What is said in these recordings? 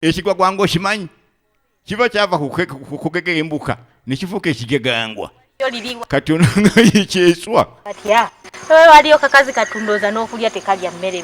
ekigwagwanga okimanyi kiba kyava kukugega embuka nekifuuka ekigegangwa kati ononayikyeswa waliyo kakazi katundooza n'okulya tekalya mmere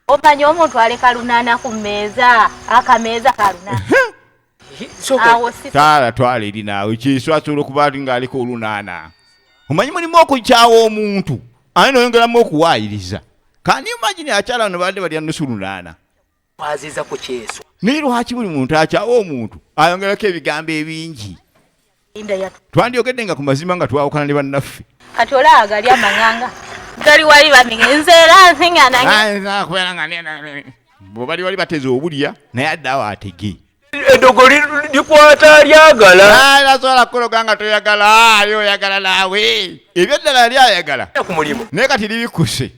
omanya omuntu aleka lunaana ku mmeeza akameeza kalunaanataala twala eri naawe kyeswa asobola okuba ti ng'aleka olunaana omanyi mulimu okukyawa omuntu ani noyongeramu okuwaayiriza kandi imagine akyala no baadde balya nusu lunaana kwaziza ku kyeso naye lwaki buli muntu akyawa omuntu ayongerako ebigambo ebingi twandyogedde nga ku mazima nga twawukana ne bannaffe kati olaba gali amanganga gali wali bamige nze era nsinganabwebali wali bateze obulya naye adde awo atege edogo likwata lyagala tasobola ah, kukuloga nga toyagala ali ah, oyagala naawe ebyo eddala yali ayagala ku mulimu naye kati libikkuse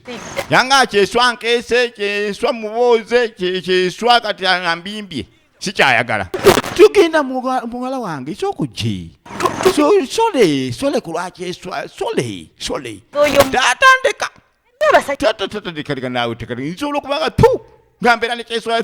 yanga kyeswa nkeese kyeswa mubooze kyeswa kati nga mbimbye sikyayagala tugenda muwala wange ekyokujje sole sole kulwakyeswa sole sole tatandika tatandika naawe tekati nsobola okubanga tu nga mbeera nekyeswa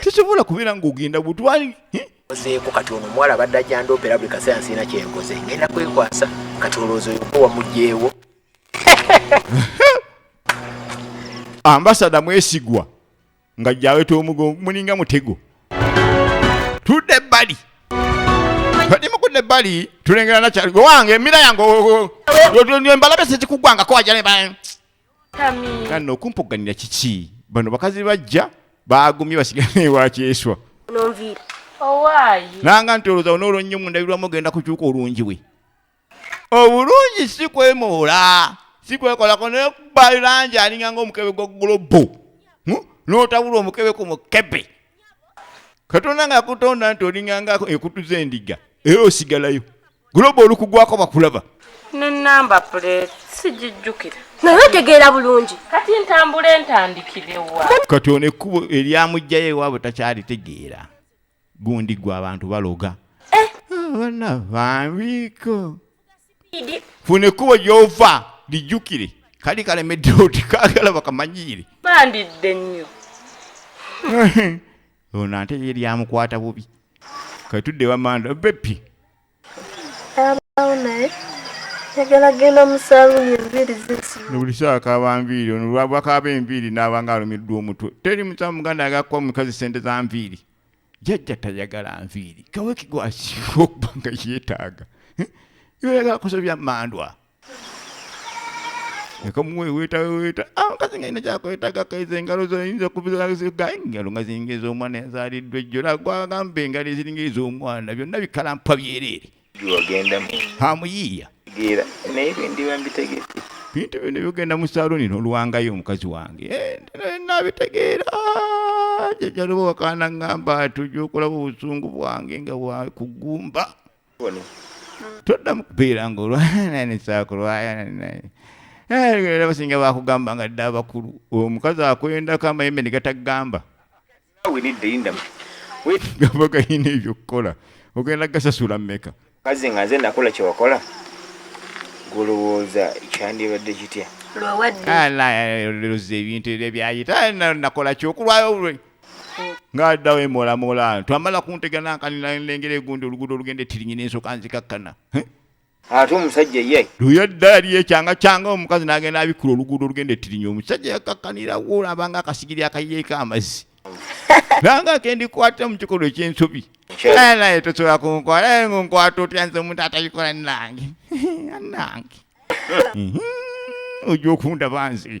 tesobola kubeera ng'ogenda butwali ozeeko kati ono omuwala abadde ajandoopera buli kaseera nsiina kyenkoze ngenda kwekwasa kati olowooza oyo gwe wamugyewo ambasada mwesigwa nga jaweta omugongo mulinga mutego tudde ebbali nimukudde ebbali tulengera nakyali gwe wange emira yange embalabe sekikugwangako wajale kano okumpuganira kiki bano bakazi bajja bagumye basigala newakyeswa nanga nti olowooza onoolo nnyo mundabirwamu ogenda kukyuka olungi we obulungi si kwemoola si kwekolako naye kuba langi alinga ngaomukebe gwa gulobo hm? n'otabula omukebe ku mukebe katonda nga yakutonda nti olingangako ekutu zendiga era osigalayo guloba olukugwako bakulaba nenamba plate sijijjukira naye otegeera bulungi kati ntambula entandikirewa kati ono ekkubo eryamugjayo ewaabwe takyalitegeera gundi gwe abantu baloga eh. abana bambiko funa ekkubo gy'ova lijjukire kali kalemedde oti kaagala bakamanyiire bandidde nnyo ono ate ye lyamukwata bubi katudde wamanda bepi abawo naye yagala genda mu saluuni enviiri zisibuli sawa kaba nviiri ono lwabwakaba enviiri n'abanga alumiddwa omutwe teri musamu muganda agakuba omukazi sente za nviiri jajja tayagala nviiri kaweki gwasiiwa okuba nga yeetaaga yoyagala kusobya mandwa ekamuweweetaweweta omukazi ah, nga ina kyakwetaaga kaiza engalo zoyinza okubigaye engalo nga ziringa ez'omwana ezaaliddwa ejjola gwagambe engalo eziringa ez'omwana byonna bikalampwa byereere Wagenda mu. Hamuyiya. Gira. Naye bindiwa mbitegedde. Bintu bino byogenda mu saluni nolwangayo omukazi wange. Eh, nabitegeera. Jajaloba wakaana ngamba tujja okulaba obusungu bwange nga wakugumba. Ono. Toddamu kubeera nga olwana ne saakulwaya naye. Eh, era basinga bakugamba nga dda abakulu. Omukazi akwendako amayembe ne gatagamba. gamba galina ebyokukola ogenda gasasula meka kazi nga nze nakola kyewakola golowooza kyandibadde kitya lwewaddeloza ebintu ebyo byayita nakola kyokulwayo lwe ngaaddawo emolamola twamala kunteganakanilengera egundi oluguudo olugenda etirinyina ensoka nzikakkana ate omusajja ye luyo eddala liyo ekyanga kyanga omukazi n'agenda abikkula oluguudo olugenda ettirinya omusajja yakakkanira woolaba nga akasigiri akayiyeeko amazzi nanga akendikwata mu kikolwa eky'ensobi naye naye tosobola kunkwata naye ngunkwata otya nze omuntu atabikola nange nange mhm. ojja okundaba nze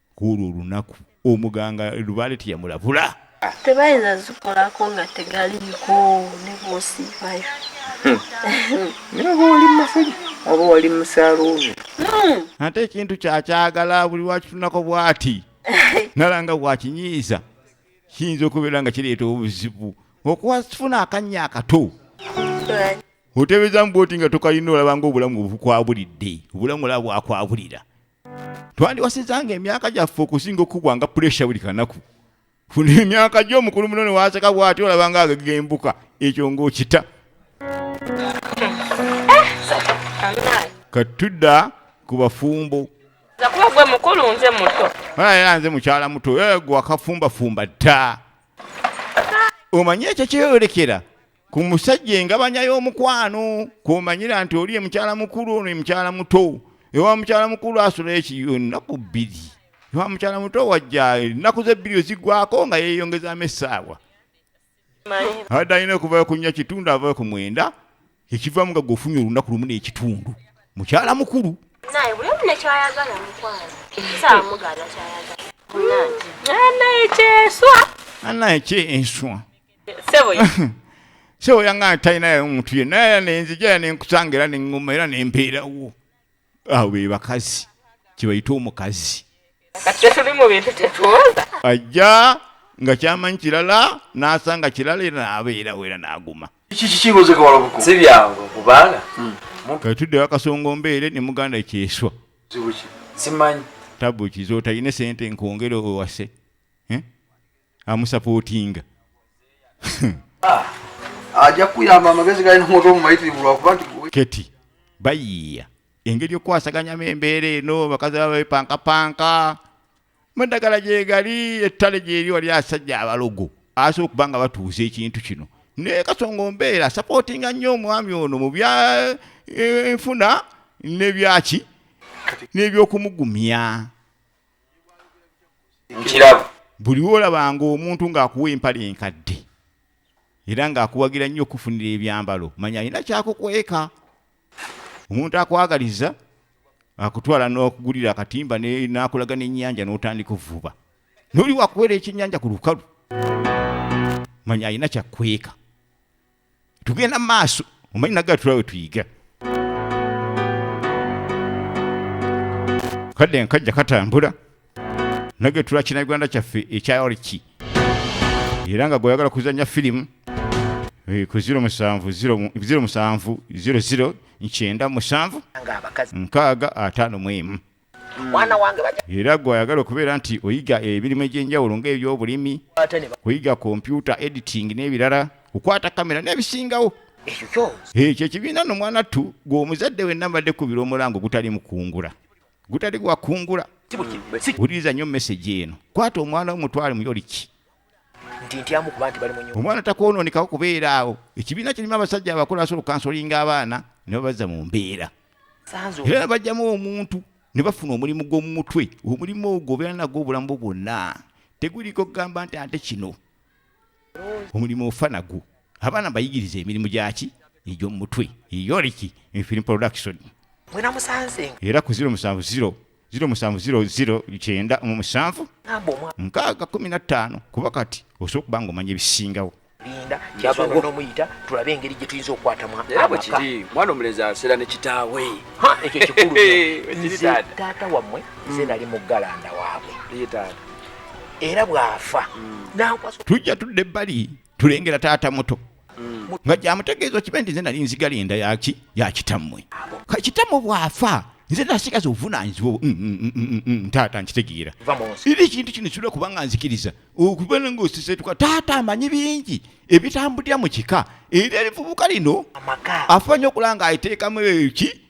kwolwo olunaku omuganga lubaale teyamulabula tebayinza zikolako nga tegaliiko ne bwosiibayo hmm. naye bwoli mumafuji oba wali musaluubi hmm. ate ekintu kyakyagala buli wakitunako bwati nalanga bwakinyiiza kiyinza okubeera nga kireeta obuzibu okuwafuna akannya akato otebeezamu bwoti nga tokalina olabanga obulamu obukwabulidde obulamu olaba bwakwabulira twandiwasizanga emyaka gyaffe okusinga okukubwa nga puresha buli kanaku funa emyaka gyo omukulu muno newaseka bwati olaba nga agagembuka ekyo ngaokita katudda ku bafumbo era nze mukyala muto eh, gwakafumbafumba dda omanyi ekyo kyeyorekera ku musajja engabanya y'omukwano kwomanyira nti oli emukyala mukulu ono emukyala muto ewa mukyala mukulu asula ekiyo ennaku bbiri ewa mukyala muto wajja ennaku zebbiri ozigwako nga yeeyongezamu essaawa abadde alina okuvayo kunya kitundu avayo ku mwenda ekivamu nga gweofunye olunaku lumu n'ekitundu mukyala mukulu naye buli omu nekyayagala mukwano saamugala kyayagala naye kyeswa anaye kye enswa sebo yangana talinayo omuntu ye naye era nenzija era nenkusanga era neŋŋuma era nempeerawo awo be bakazi kyebayita omukazi ajja nga kyamanyi kirala n'asanga kirala era n'abeerawo era n'aguma katuddewo akasongo mbeere ne muganda kyeswa tabu kizotalina sente nkwongere owase amusapootinga ah, ajja kuyamba amagezi galina omwoto omumayitirivu lwakuba nti keti bayiiya engeri okukwasaganyamu embeera eno bakazi baba bepankapanka muddagala gyegali ettale gyeri wali asajja abalogo asobola okuba nga batuuza ekintu kino naye kasonga ombeera sapootinga nnyo omwami ono mu bya eh, enfuna nebyaki nebyokumugumya nkiraba buli lwolabanga omuntu ng'akuwa empale enkadde era ng'akuwagira nnyo okufunira ebyambalo manya alina kyakukweka omuntu akwagaliza akutwala n'okugulira akatimba n'akulaga n'ennyanja n'otandika ovuba n'oli wakuwera ekyennyanja ku lukalu manya alina kyakukweka tugenda mu maaso omanyi naga tulawe tuyiga kadde nkajja katambula nage tula kinagwanda kyaffe ekyayoliki era nga gweyagala kuzanya firimu eh, ku 07 musanvu 00 nkyenda musanvu nkaaga ataano mu emu mwana wange era gwe ayagala okubeera nti oyiga emirimu egy'enjawulo ng'ebyobulimi kuyiga kompyuta editing n'ebirala kukwata kamera n'ebisingawo ekyo ekibiina no mwana ttu gwe omuzadde we nabadde kubira omulango gutali mukungula gutali gwakungula wuliriza nnyo mesegi eno kwata omwana wo mutwale muyoliki nti ntyamu kuba nti bali munyumba omwana takwonoonekawo kubeera awo ekibiina kirimu abasajja abakulu asobola okansolinga abaana ne babazza mu mbeera era nabajjamu omuntu ne bafuna omulimu gw'omu mutwe omulimu ogwo obeera nagwo obulamu bwonna teguliko kugamba nti ate kino omulimu ofa nagwo abaana bayigiriza emirimu gyaki egy'omu mutwe eyoliki infin production era ku 070 ziro musanvu ziro ziro kyenda mu musanvu nkaaga kumi na ttaano kuba kati osobola okuba nga omanya ebisingawo linda kyava nomuyita tulabe engeri gye tuyinza okukwatamu kiri mwana omulenzi aseera ne kitaawe ekyo kikulu taata wammwe nze nali muggalanda waabwe era bw'afa hmm. tujja tudda ebbali tulengera taata muto mm. nga gyamutegeeza kibe nti nze nali nzigala enda yaki yakitammwe kakitamu bwafa nze nasigaza obuvunanyizibwa mm, mm, mm, ntaata nkitegeera era ekintu kino kisobola kubanga nzikiriza okubera nga osisetuka taata amanyi bingi ebitambulira mu kika era erivubuka lino afuba nyo okulanga aiteekamu eki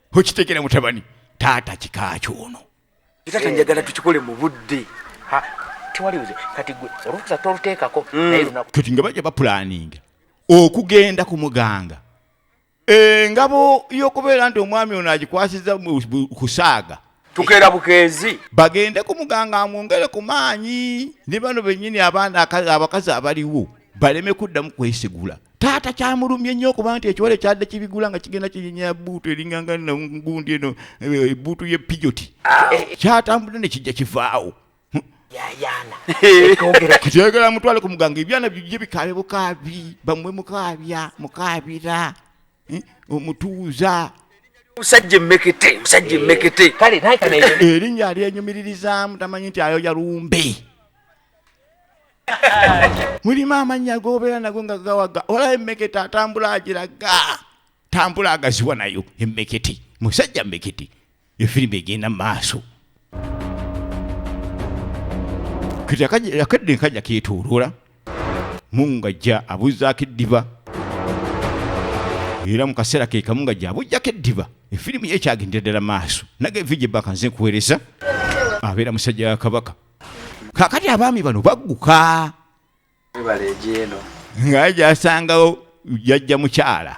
okitegera mutabani taata kikaaki ono taata njagala tukikole mu budde tewaliwuze kati gwe olukusa toluteekako mm. kati nga bajja bapulaninga okugenda ku muganga engabo y'okubeera nti omwami ono agikwasiza kusaaga tukeera bukeezi bagende ku muganga amwongere ku maanyi ne bano bennyini abaana abakazi abaliwo baleme kuddamu kwesigula taata kyamulumye nnyo okuba nti ekiwale kyadde kibigula nga kigenda kinyinya buutu eringanga nangundi eno eh, ebuutu ye pijoti ah. kyatambudde ne kijja kivaawo yayaana ekyogera kyogera mutwale ku muganga ebyana bibye bikabe bukaabi bamwe mukaabya mukaabira eh, omutuuza musajja emekete musajja emekete eh, erinnya alyenyumiririzaamu tamanyi nti ayoya lumbe mulimu amannya gobeera nago nga gawaga olaba emekete atambula agiraga tambula agaziwa nayo emekete musajja mekete efirimu egenda maaso kati akadde nkajja ketoloola mungu ngajja abuzaako eddiba era mu kaseera ke kamu nga gyabujjako eddiba efirimu ye ekyagendera ddala maaso nage vije baka nze nkuweereza abeera musajja wa kabaka kakati abaami bano bagguka nga gyasangawo jajja mukyala